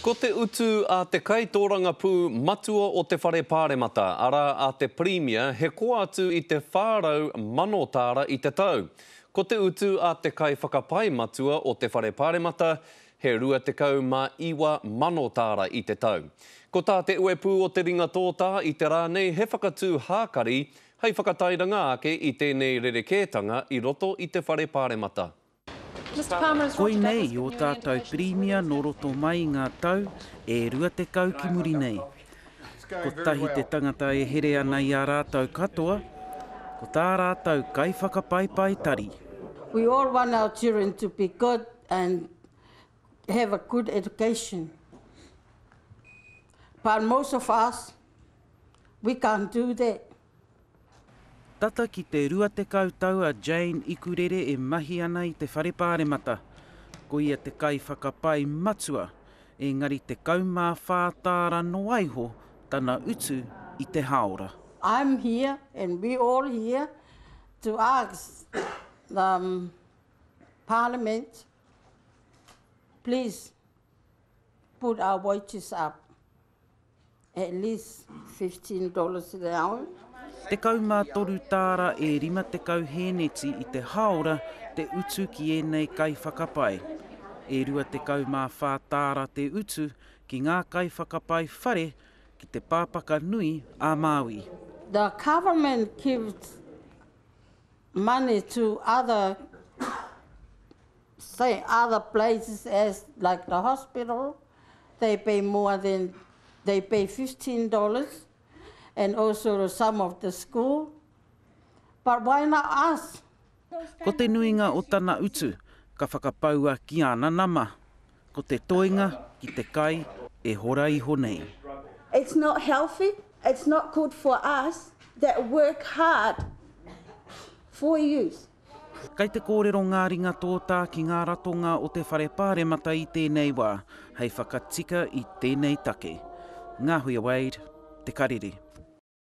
Ko te utu a te kaitōrangapū matua o te Whare Pāremata, arā a te Pirimia, he koa atu i te 400,000 tāra i te tau. Ko te utu a te kaiwhakapae matua o te Whare Pāremata, he 29,000 tāra i te tau. Ko tā te uepū o te ringa tōtā i te rā nei he whakatū hākari hei whakatairanga ake i tēnei rerekētanga i roto i te Whare Pāremata. Koinei ō tātou Pirimia nō roto mai i ngā tau e 20 ki muri nei. Kotahi te tangata e here ana i a rātou katoa, ko tā rātou kaiwhakapaipai tari. We all want our children to be good and have a good education. But most of us, we can't do that. Tata ki te 20 tau a Jane Ikurere e mahi ana i te Whare Pāremata. Ko ia te kaiwhakapai matua, engari 14 tāra noaiho tana utu i te hāora. I'm here and we all here to ask the parliament please put our wages up. at least $15 an hour. Tekau mā toru tāra e rima tekau hēneti i te hāora te utu ki ēnei kaiwhakapae. E rua tekau mā whā tāra te utu ki ngā kaiwhakapae whare ki te pāpaka nui a Māui. The government gives money to other. say other places as like the hospital they pay more than they pay fifteen dollars and also some of the school but why not us Ko te nuinga o tana utu ka whakapaua ki ana nama. Ko te toenga ki te kai e hora iho nei. It's not healthy, it's not good for us that work hard for yous. Kei te kōrero ngā ringatōtā ki ngā ratonga o te Whare Pāremata i tēnei wā, hei whakatika i tēnei take. Ngāhuia Wade, Te Karere.